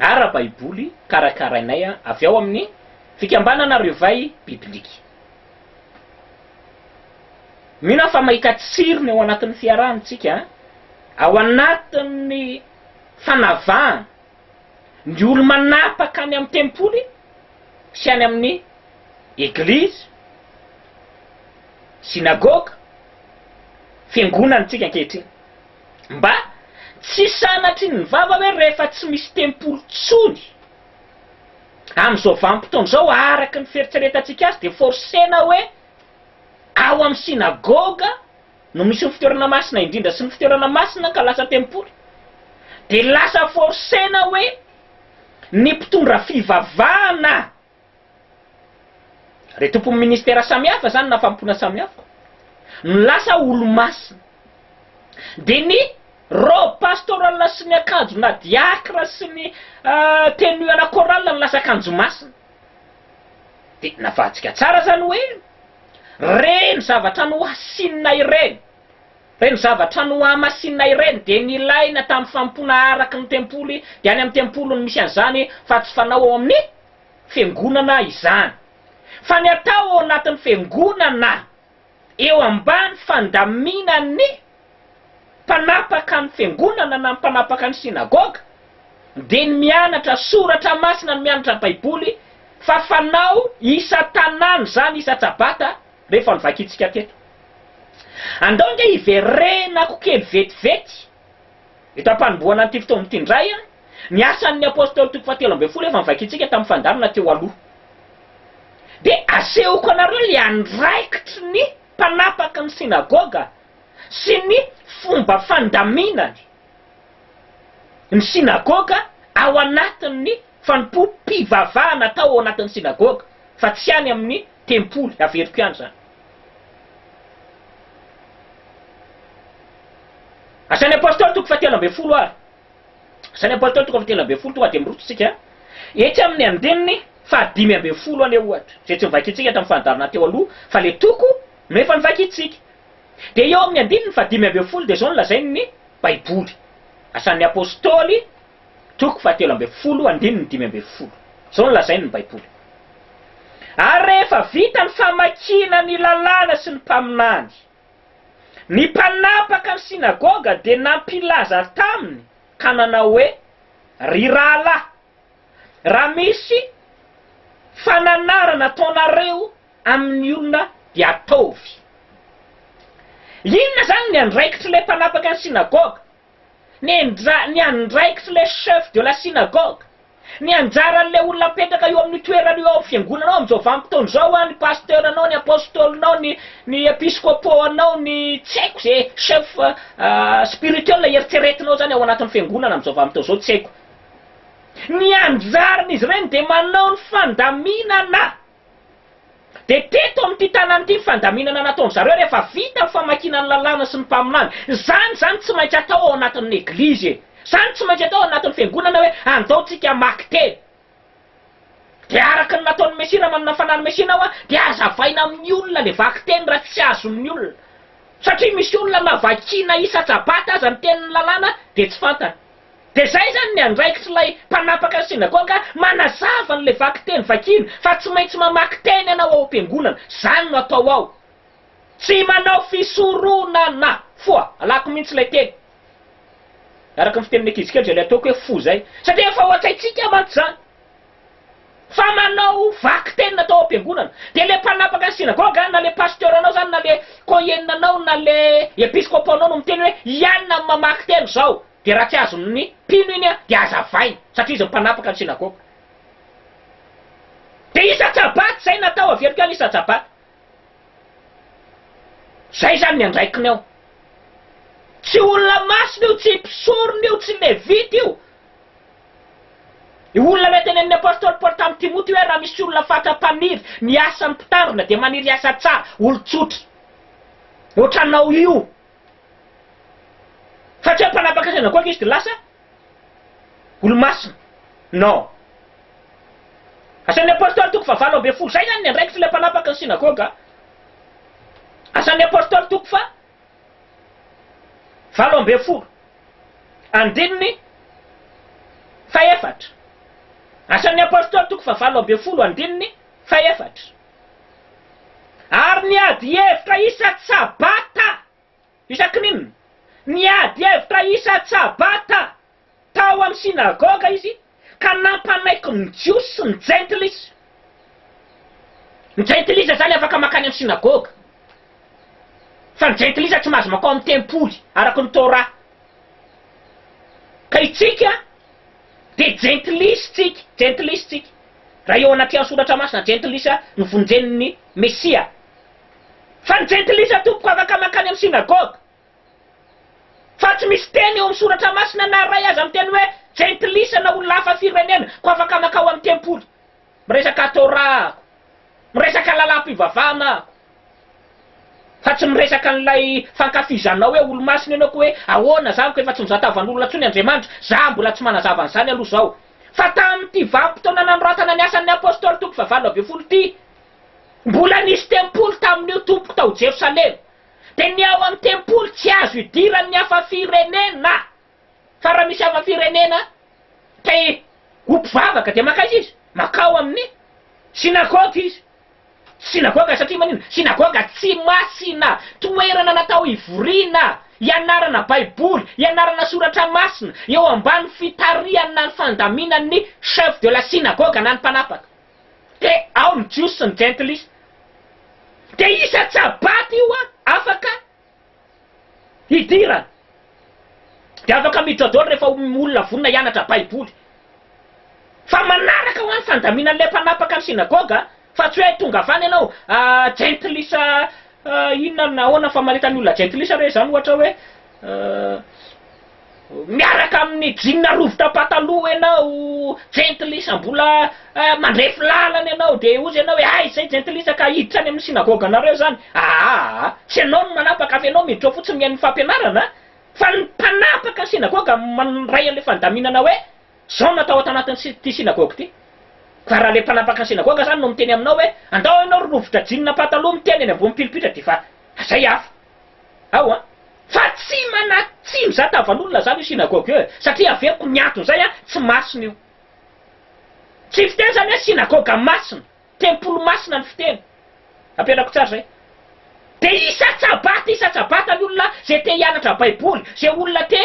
ara-baiboly karakarainay avy ao amin'ny Fikambanana Revay Biblique. Mino aho fa mahita tsirony ao anatin'ny fiarahana isika, ao anatin'ny fanavahana ny olo-manapaka any amin'ny tempoly sy any amin'ny eglizy, synagoga, fiangonana, antsika ankehitriny. Mba tsy sanatry ny vava ve rehefa tsy misy tempoly tsony amin'izao vanim-potoana izao araka ny fieritreretantsika azy dia forcena hoe ao amin'ny synagoga no misy ny fitoerana masina indrindra sy ny fitoerana masina ka lasa tempoly? Dia lasa forcena hoe ny mpitondra fivavahana Re tompon'ny ministera samihafa zany na famompona samihafa no lasa olomasina. Dia ny robe pastoral sy ny akanjo na diacre sy ny tenue à la chorale no lasa akanjo masina. Dia navadika tsara zany hoe reny zavatra nohasinina ireny, reny zavatra nohamasinina ireny dia nilaina tamin'ny famompona araky ny tempoly dia any amin'ny tempoly no misy an'izany fa tsy fanao ao amin'ny Fiangonana izany, fa ny atao ao anatin'ny Fiangonana eo ambany fandaminan'ny mpanapaka ny Fiangonana na ny mpanapaka ny Synagoga dia ny mianatra soratra masina, ny mianatra Baiboly, fa fanao isan-tanàna izany isan-tsabata rehefa novakintsika teto. Andao ange hiverenako kely vetivety. Eto am-panombohana an'ity fotoana ity indray, ny asan'ny Apôstôly toko fahatelo ambin'ny folo efa novakitsika tamin'ny fandaminana teo aloha. Dia asehoko anareo ilay andraikitry ny mpanapaky ny synagoga sy ny fomba fandaminany ny synagoga ao anatin'ny fanompoam-pivavahana atao ao anatin'ny synagoga fa tsy any amin'ny Tempoly, averiko ihany izany. Asan'ny Apôstôly toko fahatelo ambin'ny folo ary. Asan'ny Apôstôly toko fahatelo ambin'ny folo, tonga dia miroso isika etsy amin'ny andininy fahadimy ambin'ny folo anie ohatra, izay tsy novakintsika tamin'ny fandaharana teo aloha, fa ilay toko no efa novakintsika. Dia eo amin'ny andininy fahadimy ambin'ny folo dia izao no lazain'ny Baiboly, Asan'ny Apôstôly, Toko fahatelo ambin'ny folo andininy dimy ambin'ny folo. Izao no lazain' ny Baiboly, Ary rehefa vita ny famakiana ny Lalàna sy ny mpaminany, ny mpanapaka ny synagoga dia nampilaza taminy ka nanao hoe, Ry rahalahy, raha misy fananarana ataonareo amin' ny olona dia ataovy. Inona izany ny andraikitr' ilay mpanapaka ny synagoga? Ny ndra, ny andraikitry le chef de la synagogue, ny anjaran'le olona apetraka eo amin'io toerana io ao amin'ny fiangonanao amin'izao vanim-potoana izao an, ny pasteur-nao, ny apostole-nao, ny ny episcopo-nao, ny tsy haiko ze chef spirituel eritreretinao zany ao anatin'ny fiangonana amin'izao vanim-potoana izao tsy haiko. Ny anjaran'izy ireny dia manao ny fandaminana Dia teto amin'ity tanàna ity ny fandaminana nataon-dry zareo rehefa vita ny famakiana ny lalàna sy ny mpaminany. Izany izany tsy maintsy atao ao anatin'ny eglizy e! Izany tsy maintsy atao ao anatin'ny fiangonana hoe andao tsika hamaky teny. Dia araka ny nataon'ny Mesia raha manana fanahiny Mesia ianao an, dia azavaina amin'ny olona ilay vaky teny raha tsy azon'ny olona. Satria misy olona na vakiana isa-tsabata aza ny tenin'ny lalàna dia tsy fantany. Dia izay izany ny andraikitr'ilay mpanapaka ny synagoga manazava an'ilay vakiteny vakiana fa tsy maintsy mamaky teny ianao ao am-piangonana, izany no atao ao. Tsy manao fisoronana foa, alako mihitsy ilay teny. Araka ny fitenin'ny ankizy kely izay ilay ataoko hoe fo izay, satria efa ao an-tsaintsika mantsy izany. Fa manao vaky tenina tao am-piangonana. Dia ilay mpanapaka ny synagoga, na ilay pasteuranao izany, na ilay koheninanao, na ilay episkopaonao no miteny hoe, Hianina amin'ny mamaky teny izao. Dia raha tsy azon'ny mpino iny, dia hazavainy, satria izy mpanapaka ny synagoga. Dia isan-tsabaty izay natao, averiko ihany isan-tsabaty. Izay izany ny andraikiny ao. Tsy olona masina io, tsy mpisorona io, tsy levita io. Io olona ilay tenenin'ny Apostoly Paoly tamin'i Timoty hoe raha misy olona fatra-paniry ny asan'ny mpitandrina dia maniry asa tsara, olon-tsotra ohatranao io. Fa tsy hoe mpanapaka seza akoka izy dia lasa olomasina. Non. Asan'ny Apostoly toko faha valo ambin'ny folo, izay izany ny andraikitr'ilay mpanapaka ny synagoga. Asan'ny Apostoly toko faha. valo ambin'ny folo andininy fahefatra, Asan'ny Apôstôly toko fahavalo ambin'ny folo andininy fahefatra, Ary ny adihevitra isan-tsabata, isakin'inona? Ny adihevitra isan-tsabata tao amin'ny synagoga izy ka nampanaiky ny Jiosy sy ny Jentilisa. Ny Jentilisa izany afaka mankany amin'ny synagoga, fa ny Jentilisa tsy mahazo mankao amin'ny tempoly araka ny Torah. Ka isika dia Jentilisa isika, Jentilisa isika, raha eo anatrehan'ny Soratra Masina, Jentilisa no vonjen'ny Mesia. Fa ny Jentilisa tompoko afaka mankany amin'ny synagoga. Fa tsy misy teny eo amin'ny Soratra Masina na iray aza miteny hoe jentilisa na olona hafa firenena koa afaka mankao amin'ny tempoly. Miresaka Torah aho. Miresaka lalam-pivavahana aho. Fa tsy miresaka an'ilay fankafizanao hoe olo-masina ianao koa hoe ahoana zany koa efa tsy mizah tavan'olona intsony Andriamanitra. Za mbola tsy manazava an'izany aloha izao. Fa tamin'ity vanim-potoana nanoratana ny Asan'ny Apôstôly toko fahavalo ambin'ny folo ity, mbola nisy tempoly tamin'io tompoko tao Jerosalema. Dia ny ao amin'ny tempoly tsy azo idiran'ny hafa firenena, fa raha misy hafa firenena te ho mpivavaka dia mankaiza izy? Mankao amin'ny synagoga izy. Synagoga satria maninona? Synagoga tsy masina, toerana natao hivoriana, hianarana baiboly, hianarana soratra masina, eo ambany fitarihan'ny na ny fandaminan'ny chef de la synagoga na ny mpanapaka. Te ao ny Jiosy sy ny Jentilisa. Dia isan-tsabaty io an, afaka hidirana. Dia afaka mijôjôly rehefa olona vonona hianatra Baiboly. Fa manaraka ho an ny fandaminan'ilay mpanapaka ny synagoga, fa tsy hoe tonga avy any ianao, ahh Jentilisa inona na ahoana fa manentana ny olona Jentilisa re izany ohatra hoe, ahh. Miaraka amin'ny jeans rovitra pataloha ianao, jentilisa, mbola mandrefy lalana ianao, dia hozy ianao hoe, Hay izay jentilisa ka hiditra any amin'ny synagoganareo izany. Ahaa! Tsy ianao no manapaka fa ianao miditra ao fotsiny mihaino ny fampianarana an! Fa ny mpanapaka ny synagoga mandray an'ilay fandaminana hoe, Izao no atao ato anatin'ity synagoga ity. Fa raha ilay mpanapaka ny synagoga izany no miteny aminao hoe, Andao ianao ry rovitra jeans pataloha miteny eny ambony pilipitra dia efa izay hafa. ao an! Fa tsy mana tsy mizata van'olona zany io synagogue io e! Satria averiko ny antony zay an! Tsy masina io! Tsy fiteny zany hoe synagoga masina! Tempoly masina ny fiteny! Ampianako tsara zay! Dia isa-tsabata isa-tsabata ny olona zay te hianatra baiboly, zay olona te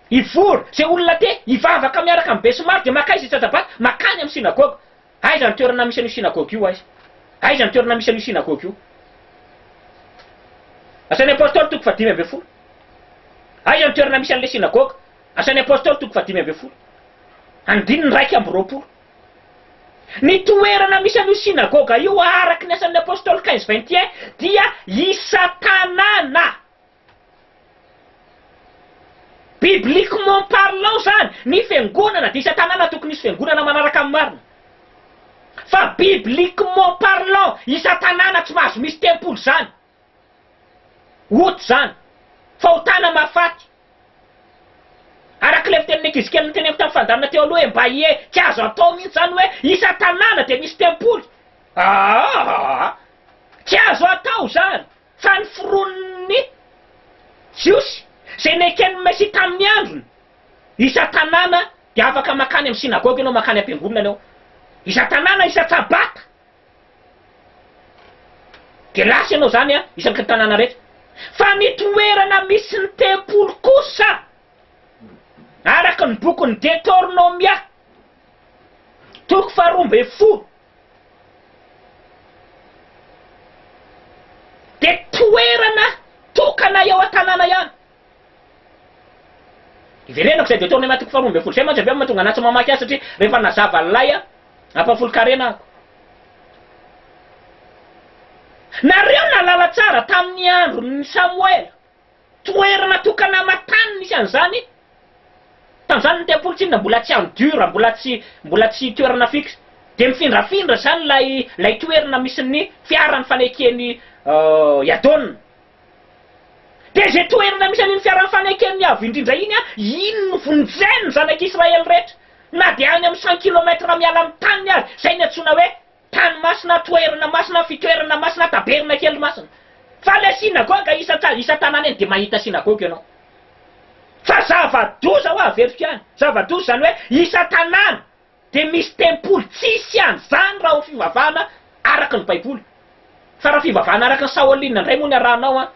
hivory, zay olona te hivavaka miaraka amin'ny besimaro dia makaiza isa-tsabata makany amin'ny synagoga! Aiza ny toerana misy an'io synagoga io? Aiza? Aiza ny toerana misy an'io synagoga io? Asan'ny Apôstôly toko fahadimy ambin'ny folo. Aiza ny toerana misy an'ilay synagoga? Asan'ny Apôstôly toko fahadimy ambin'ny folo. Andininy iraika amby roapolo. Ny toerana misy an'io synagoga io, araka ny Asan'ny Apôstôly Cains vingt et un, dia i Satana. Bibliquement parlant zany ny fiangonana dia isan-tanàna tokony hisy fiangonana manaraka ny marina. Fa bibliquement parlant isan-tanàna tsy mahazo misy tempoly zany. Out zany. Fahotana mahafaty. Arak'ilay fitenin'ny ankizikely noteneniko tamin'ny fandaminana teo aloha hoe mba ie tsy azo atao mihitsy zany hoe isan-tanàna dia misy tempoly. Aahh! Tsy azo atao zany. Fa ny foronin'ny Jiosy izay neken'ny Mesia tamin'ny androny, isan-tanàna dia afaka mankany amin'ny synagoga ianao, mankany am-piangonana ianao, isan-tanàna, isan-tsabata dia lasa ianao izany, isaky ny tanàna rehetra. Fa ny toerana misy ny tempoly kosa, araka ny bokin'ny Detornomia, toko faharoa ambin'ny folo, dia toerana tokana eo an-tanàna ihany. Iverenako izay dia tao amin'ny andininy faharoa ambin'ny folo izay mantsy avy eo no mahatonga anà tsy mamaky azy satria rehefa nazava an'ilay ampahafolon-karena ahako. Nareo nahalala tsara tamin'ny andron'i Samoela. Toerana tokana aman-tany misy an'izany tanjanin'ny tempoly tsinona mbola tsy en dur, mbola tsy mbola tsy toerana fixe. Dia mifindrafindra izany ilay ilay toerana misy ny fiaran'ny faneken'i Yadon. Dia izay toerana misy an'iny fiaran'ny faneken'ny Avo Indrindra iny, iny no vonjen'ny zanak'Israely rehetra, na dia any amin'ny cent kilomètre miala amin'ny taniny aza, izay no iantsoana hoe, Tany masina, toerana masina, fitoerana masina, tabernakely masina. Fa ilay synagoga isan-tsa, isan-tanàna eny dia mahita synagoga ianao. Fa zava-doza hoa averiko ihany, zava-doza izany hoe isan-tanàna dia misy tempoly, tsisy an'izany raha ho fivavahana araka ny baiboly. Fa raha fivavahana araka ny Shaolin indray moa ny arahanao an,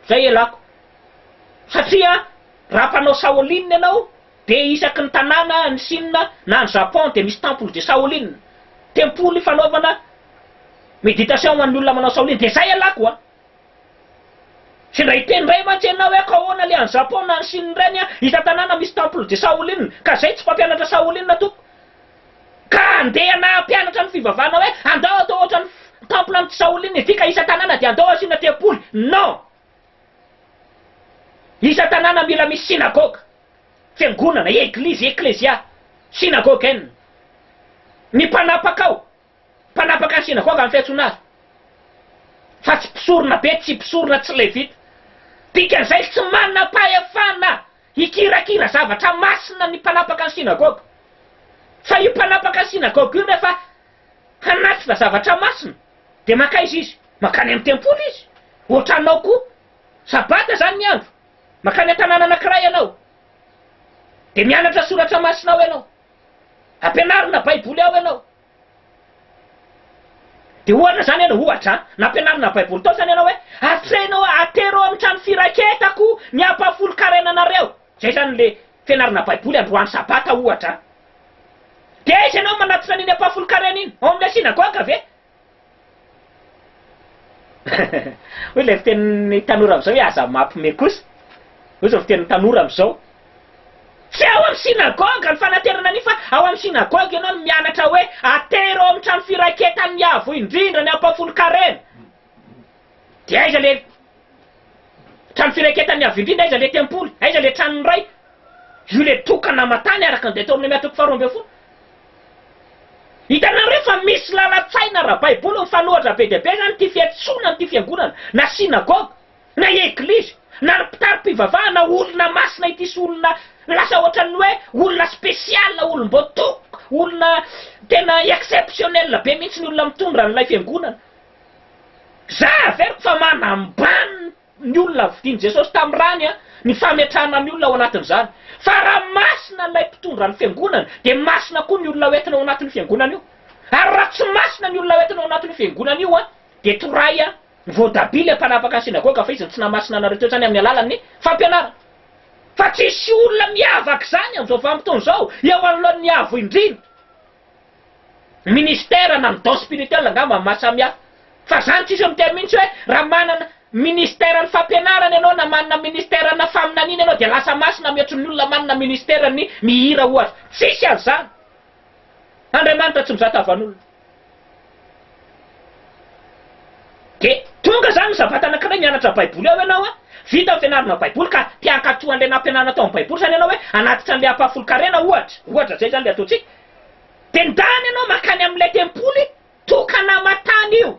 izay ialako. Satria raha mpanao Shaolin ianao, Dia isaky ny tanàna any Sina na any Japon dia misy temple de Shaolin, tempoly fanaovana meditation ho an'ny olona manao Shaolin, dia zay ialahy ko a! Tsy ndray hiteny ndray mantsy ianao hoe ko ahoana le any Japon na any Sina ireny a! Isan-tanàna misy temple de Shaolin, ka zay tsy mpampianatra Shaolin tompoko! Ka andeha ianao hampianatra ny fivavahana hoe andao atao ohatran'ny temple an'i Shaolin ity ka isan-tanàna dia andao asiana tempoly! Non! Isa tanàna mila misy synagoga, fiangonana, eglizy, eklezia, synagogen. Ny mpanapaka ao, mpanapaka ny synagoga amin'ny fiantsoana azy. Fa tsy mpisorona be, tsy mpisorona, tsy levita. Dikan'izay tsy manam-pahefana hikirakira zavatra masina ny mpanapaka ny synagoga. Fa io mpanapaka ny synagoga io nefa Hanatitra zavatra masina, dia mankaiza izy? Mankany amin'ny tempoly izy. Hoatranao koa. Sabata izany ny andro. Mankany an-tanàna anankiray ianao, dia mianatra soratra masina ao ianao. Ampianarina Baiboly ao ianao. Dia ohatra izany ianao, ohatra an, nampianarina Baiboly tao izany ianao hoe, Atrehina hoe, atero ao amin'ny trano firaketako ny ampahafolon-karena anareo. Zay zany le fianarana baiboly androany sabata ohatra a! De aiza enao manatona an'iny apa folon-karena iny? Ao amle synagoga ve? Hoy ilay fitenin'ny tanora amzao hoe aza mapme kosa. Hoy zao fitenin'ny tanora amzao. Tsy ao am synagoga ny fanaterana an'iny fa ao am synagoga enao no mianatra hoe atery ao am trano firaketan'ny avo indrindra ny apa folon-karena. Dia aiza ilay Trano Firaiketan'ny Avo Indrindra? Aiza ilay Tempoly? Aiza ilay Tranon'ny Ray? Io ilay toaka namatany araka ny Deteonomia toko faharoa ambin'ny folo. Hitanareo fa misy lalan-tsaina ara-baiboly mifanohitra be dia be izany, ity fiantsoana an'ity fiangonana, na synagogue, na eglizy, na ny mpitari-pivavahana olona masina ity sy olona lasa ohatran'ny hoe olona spécial, olom-boatoka, olona tena exceptionnel be mihitsy ny olona mitondra an'ilay fiangonana. Za averiko fa manambany ny olona vidin'i Jesosy tamin'ny rany ny fametrahana ny olona ao anatin'izany. Fa raha masina ilay mpitondra ny fiangonana dia masina koa ny olona hoentina ao anatin'io fiangonana io. Ary raha tsy masina ny olona hoentina ao anatin'io fiangonana io dia torahy voatabia ilay mpanapaka ny synagoga fa izy no tsy nahamasina anareo teo hatrany amin'ny alalan'ny fampianarana. Fa tsy hisy olona miavaka izany amin'izao vanim-potoana izao eo anoloan'ny Avo Indrindra. Ministère na ny don spirituel angamba no maha samy hafa. Fa zany tsisy miteny mihintsy hoe raha manana Ministère ny fampianarana ianao na manana Ministère na faminaniana ianao dia lasa masina mihoatry ny olona manana Ministère ny mihira ohatra. Tsisy an'izany. Andriamanitra tsy mizaka van'olona. Dia tonga izany ny sabata anankiray mianatra baiboly ao ianao a! Vita ny fianarana baiboly ka te hankato an'ilay nampianarina tao amin'ny baiboly izany ianao hoe hanatitra an'ilay ampahafolon-karena ohatra. Ohatra izay izany ilay ataontsika. Dia ndany ianao mankany amin'ilay tempoly tokana aman-tany io,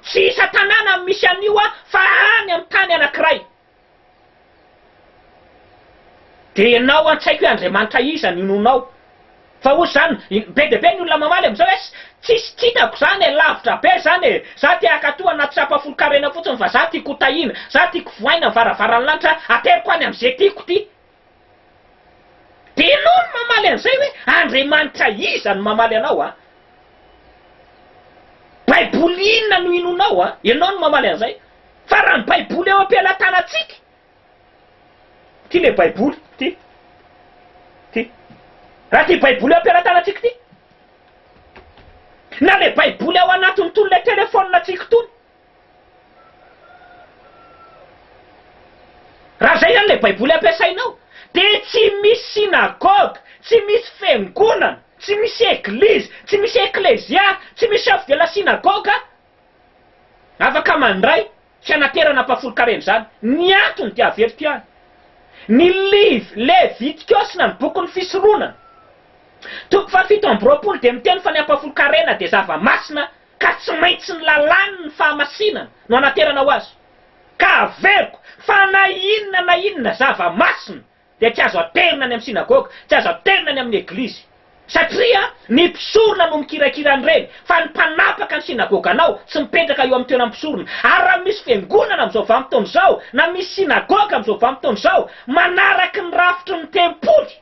tsy isan-tanàna no misy an'io an, fa any amin'ny tany anankiray. Dia ianao an-tsaiko hoe Andriamanitra iza no inoanao? Fa hozy izany, be dia be ny olona mamaly amin'izao hoe tsisy tsy hitako izany e, lavitra be izany e, za te hankatoa anaty sampafolon-karena fotsiny fa za tiako ho tahiana, za tiako vohaina ny varavaran'ny lanitra, ateriko any amin'izay tiako ity. Dia enao no mamaly an'izay hoe Andriamanitra iza no mamaly anao an? Baiboly inona no inoanao an? Enao no mamaly an'izay. Fa raha ny Baiboly eo am-pelatanantsika, ity ilay Baiboly, ity, ity. Raha ity Baiboly eo am-pelatanantsika ity, na ilay Baiboly ao anatin'itony ilay telefaoninantsika itony, Raha izay izany ilay Baiboly ampiasainao, dia tsy misy synagogue, tsy misy fiangonana, tsy misy eglizy, tsy misy eklezia, tsy misy chef de la synagogue afaka mandray fianaterana ampahafolon-karena izany. Ny antony dia averiko ihany, ny liv. Levitikaosy na ny bokin'ny Fisoronana, toko fahafito amby roapolo dia miteny fa ny ampahafolon-karena dia zava-masina, ka tsy maintsy ny lalàny ny fahamasinana no hanaterana ho azy, ka averiko fa na inona na inona zava masina dia tsy azo aterina any amin'ny synagoga, tsy azo aterina any amin'ny eglizy, satria ny mpisorona no mikirakira an'ireny, fa ny mpanapaka ny synagoganao tsy mipetraka eo amin'ny toeram-pisorona, ary raha misy fiangonana amin'izao vanim-potoana izao, na misy synagoga amin'izao vanim-potoana izao manaraky ny rafitry ny tempoly,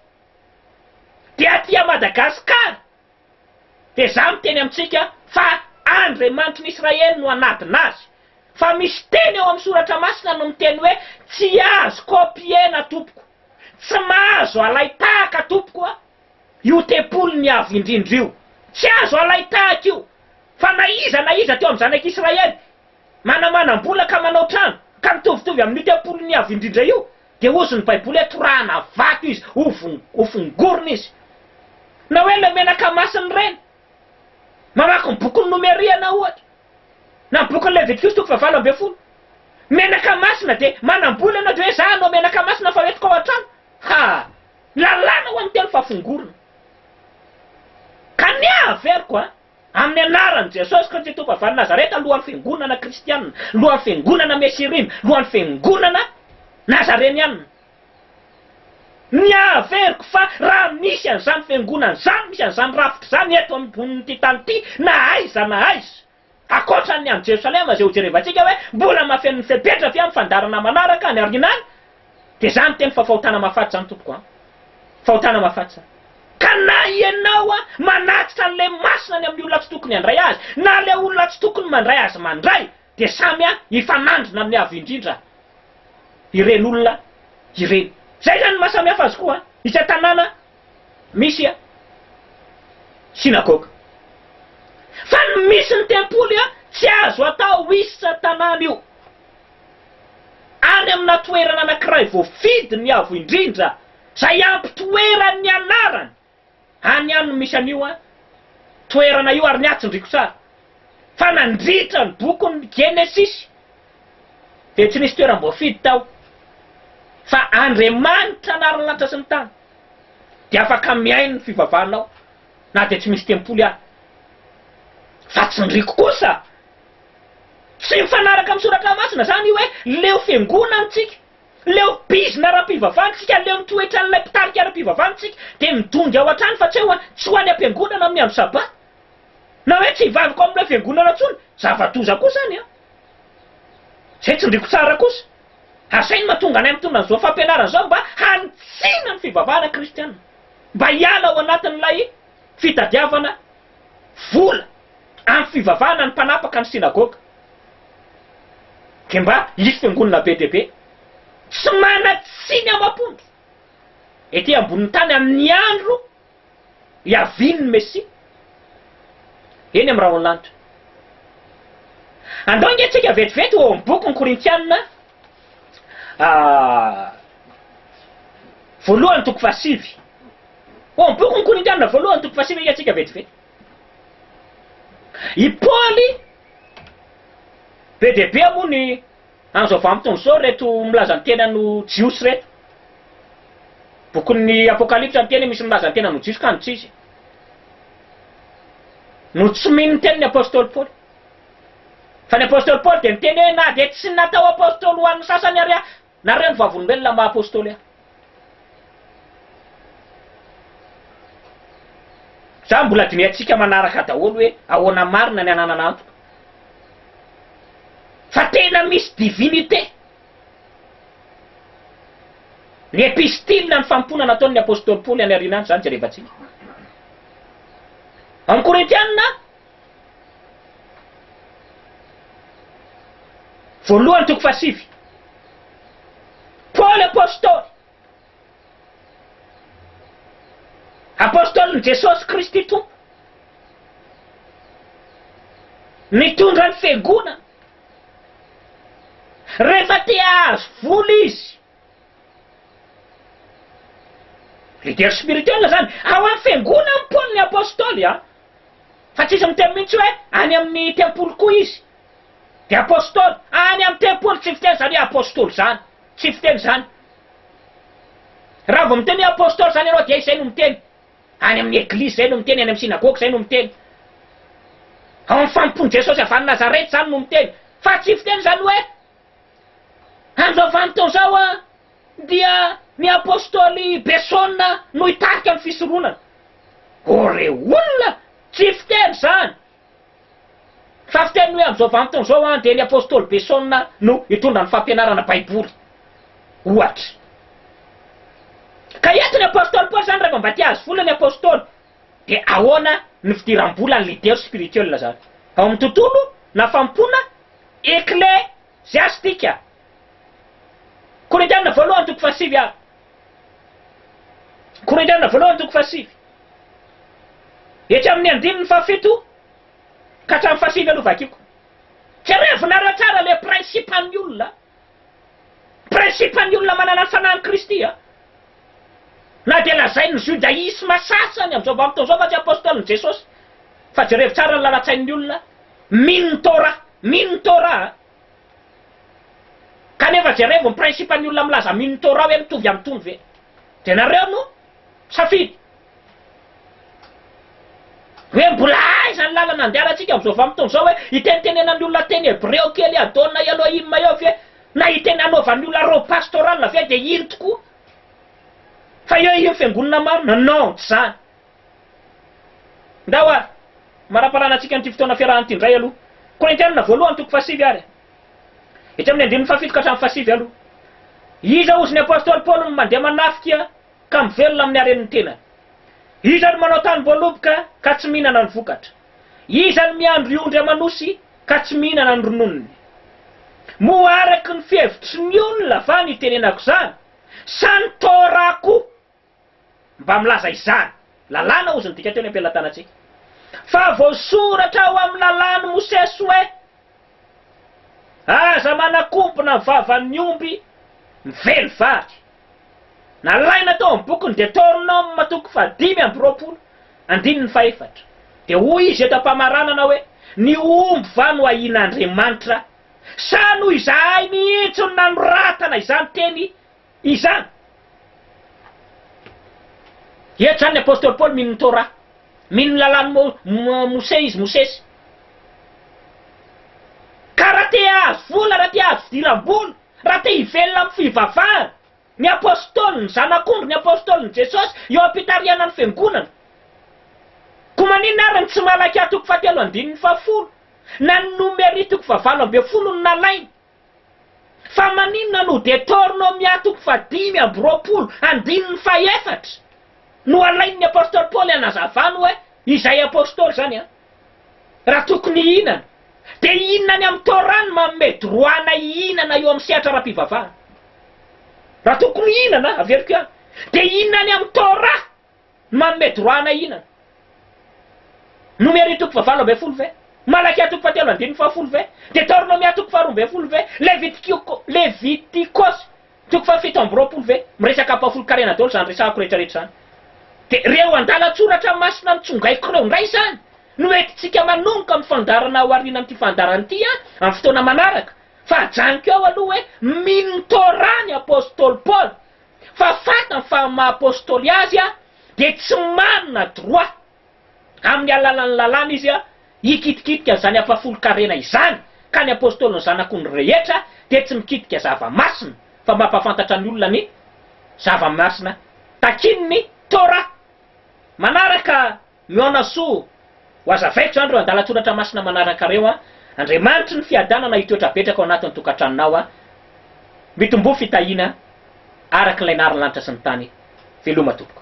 dia aty Madagascar Dia izaho miteny amintsika fa Andriamanitry ny Israely no hanadina azy. Fa misy teny ao amin'ny Soratra Masina no miteny hoe, Tsy azo copier-na, tompoko. Tsy mahazo alain-tahaka, tompoko a! io tempolin'ny Avo Indrindra io. Tsy azo alain-tahaka io. Fa na iza na iza teo amin'ny zanak'i Israely, manamanam-bola ka manao trano, ka mitovitovy amin'io tempolin'ny Avo Indrindra io, Dia hozy ny baiboly hoe torahana vato izy, ho fongorina izy. Na hoe ilay menaka masina ireny. Mamaky ny bokin'ny Nomeria ianao ohatra, na ny bokin'ny Levitikosa toko fahavalo ambin'ny folo. Menaka masina dia manambola ianao dia hoe za hanao menaka masina fa hoentiko ao an-trano. Ha! Lalàna ho an'ny teny fahafongorana. Ka ny ahy averiko an! Amin'ny anaran'i Jesosy Kristy Tompo avy any Nazareta, lohan'ny fiangonana kristiana, lohan'ny fiangonana Mesirim, lohan'ny fiangonana Nazareniana. Miha-averiko fa raha misy an'izany fiangonana izany, misy an'izany rafitra izany eto ambonin'ity tany ity, na aiza na aiza, ankoatran'ny any Jerosalema izay hojerevantsika hoe mbola mahafeno ny fepetra ve amin'ny fandaharana manaraka any aoriana any, Dia za miteny fa fahotana mahafaty izany tompoko a! Fahotana mahafaty izany. Ka na ianao a, manatitra an'ilay masina ny amin'ny olona tsy tokony handray azy, na ilay olona tsy tokony mandray azy mandray, dia samy a hifanandrina amin'ny Avo Indrindra ireny olona ireny. Izay izany ny maha samy hafa azy koa a! Isa tanàna misy a synagoga. Fa ny misy ny tempoly a, tsy azo atao isa tanàna io. any amina toerana anankiray voafidy ny avo indrindra izay ampitoerany ny anarany, any ihany no misy an'io toerana io ary ny ahy tsindriko tsara fa nandritra ny bokin'ny Genesisy dia tsy nisy toeram-boafidy tao fa Andriamanitra anary ny lanitra sy ny tany dia afaka mihaino ny fivavahanao na dia tsy misy tempoly ary fa tsindriko kosa Tsy mifanaraka amin'ny soratra masina izany io hoe leo fiangonantsika, leo bizina ara-pivavahantsika, aleo ny toetran'ilay mpitarika ara-pivavahantsika dia midongy ao an-trano fa tsy eo an, tsy ho any am-piangonana amin'ny andro sabata. Na hoe tsy hivavaka ao amin'ilay fiangonana intsony, zava-doza koa izany an! Izay tsindriko tsara kosa, asa inona tonga anay mitondra an'izao fampianarana izao mba hanitsiana ny fivavahana kristiana, mba hiala ao anatin'ilay fitadiavana vola amin'ny fivavahana ny mpanapaka ny synagoga dia mba hisy fiangonana be dia be tsy manan-tsiny amam-ponja ety ambonin'ny tany amin'ny andro hiavian'ny Mesia eny amin'ny rahon'ny lanitra. Andao ingahy tsika vetivety ho ao amin'ny bokin'ny Korintiana. voalohany toko fahasivy. Ao amin'ny bokin'ny Korintiana voalohany toko fahasivy hiantsika vetivety. I Paoly be dia be moa ny an'izao vanim-potoana izao reto milaza ny tenany ho Jiosy reto. Bokin'ny Apokalypsa ny teny misy milaza ny tenany ho Jiosy ka no tsy izy. No tsy mino ny tenin'ny Apostoly Paoly. Fa ny apostoly Paoly dia niteny hoe, Na dia tsy natao apostoly ho an'ny sasany ary aho, nareo ny vavolombelona maha apostoly ahy. Izany mbola dinihantsika manaraka daholo hoe ahoana marina ny hananana antoka. Fa tena misy divinité. Ny epistile, ny fanompoana nataon'ny apostoly Paoly any aoriana any, izany jerevantsika. Ao amin'ny Korintiana, Voalohany toko fahasivy. Paoly Apôstôly. Apôstôlin'i Jesôsy Kristy Tompo. Nitondra ny fiangonana. Rehefa te hahazo vola izy. Leader spirituel zany ao am fiangonan ny Paoly ny Apostoly a! Fa tsisy miteny mihintsy hoe any amin ny tempoly koa izy dia Apostoly, any am tempoly tsy fiteny zany hoe Apostoly zany, tsy fiteny zany. Raha vao miteny hoe Apostoly zany ianao dia izay no miteny, any amin ny Eglizy zay no miteny, any am Synagogue zay no miteny, ao am fanompoan Jesosy avy any Nazareth zany no miteny, fa tsy fiteny zany hoe Amin'izao vanim-potoana izao dia ny Apostoly Beson no hitarika ny fisoronana. Oh re olona! Tsy fiteny izany fa fiteny ny hoe amin'izao vanim-potoana izao dia ny Apostoly Beson no hitondra ny fampianarana Baiboly ohatra. Ka entin'ny Apostoly Paoly izany rehefa mba te-hahazo vola ny Apostoly. Dia ahoana ny fidiram-bola ny leader spirituel zany? Ao amin'ny tontolo na fanompoana ekleziastika? Korintiana voalohany toko fahasivy ary. Korintiana voalohany toko fahasivy. Etsy amin'ny andininy fahafito ka hatramin'ny fahasivy aloha vakiko. Jereo vinareo tsara le principe-n'ny olona. Principe ny olona manana ny fanahin'i Kristy an! Na dia lazain'ny judaisme sasany amin'izao vanim-potoana izao fa tsy apostolin'i Jesosy. Fa jerevo tsara ny lalan-tsain'ny olona mino ny Torah, mino ny Torah an! Kanefa jerevo ny principe ny olona milaza mino ny Torah hoe mitovy amin'itony ve? Dia nareo no safidy. Hoe mbola aiza ny lalana andehanantsika amin'izao vanim-potoana izao? Hoe hitenitenenan'ny olona teny hebreo kely Adonai Elohim eo ve? Na hiteny hanaovan'ny olona robe pastorale ve dia iny tokoa fa eo iny fiangonana marina? Non, tsy izany. Ndao ary hamaramparana antsika amin'ity fotoana fiarahana ity indray aloha. Korintianina voalohany toko fahasivy ary e. Etsy amin'ny andininy fahafito ka hatramin'ny fahasivy aloha. Iza hozy ny apostoly Paoly no mandeha manafika? ka mivelona amin'ny haren'ny tenany? Iza no manao tanim-boaloboka ka tsy mihinana ny vokatra? Iza no miandry ondry aman'osy ka tsy mihinana ny rononony? Moa araka ny fihevitry ny olona va no itenenako izany, sa ny Torah koa mba milaza izany? Lalàna hozy ny dika teo ny am-pelatanantsika. Fa voasoratra ao amin'ny lalàn'i Mosesy hoe. Aza manakobona ny vavan'ny omby mively vary. Nalaina tao amin'ny bokin'ny Detornoma toko fahadimy amby roapolo, andininy fahefatra, dia hoy izy eto am-pamaranana hoe, Ny omby va no ahian'Andriamanitra? Sa noho izahay mihitsy no nanoratana izany teny Izany! Eto izany ny apostoly Paoly mino ny Torah. Mino ny lalàn'i Mosè izy, Mosesy. Ka raha te hahazo vola, raha te hahazo fidiram-bola, raha te hivelona amin'ny fivavahana, ny apostoly, ny zanak'ondry, ny apostolin'i Jesosy, eo am-pitarihanan'ny fiangonana. Koa maninona ary ny tsy Malakia toko fahatelo andininy fahafolo, na ny Nomeria toko fahavalo ambin'ny folo no nalainy? Fa maninona no dia Tornomia toko fahadimy amby roapolo andininy fahefatra no alain'ny Apostoly Paoly hanazavany hoe izay Apostoly izany an? Raha tokony hihinana, dia hihinana any amin'ny Torah ny manome droit anay hihinana eo amin'ny sehatra ara-pivavahana. Raha tokony hihinana, averiko ihany, dia hihinana any amin'ny Torah. Manome droit hanahinana. Nomery toko fahavalo ambin'ny folo ve? Malakia toko fahatelo andininy fahafolo ve? Detornomia toko faharoa ambin'ny folo ve? Levitikiko, Levitikosy toko fahafito amby roapolo ve? Miresaka ampahafolon-karena daholo izany resahako rehetrarehetra izany. Dia ireo andalan-tsoratra masina nitsongaiko ireo indray izany no entintsika manomboka amin'ny fandaharana ao aorianan'ity fandaharana ity an, amin'ny fotoana manaraka. Fa ajanoko eo aloha hoe mino ny Torah ny apostoly Paoly. fa fantany fa amin'ny maha Apostoly azy dia tsy manana droit amin'ny alalan'ny lalàna izy hikitikitika an'izany ampahafolon-karena izany, ka ny Apostoly ny Zanak'ondry rehetra dia tsy mikitika zava-masina fa mampahafantatra ny olona ny zava-masina takian'ny Torah manaraka. Mihaona soa ho azavaiko izany ireo andalan-tsoratra masina manaraka ireo an! Andriamanitry ny fiadanana hitoetra betraka ao anatin'ny tokantranonao an! Mitomboa fitahiana araka ilay nariny lanitra sy ny tany! Veloma tompoko!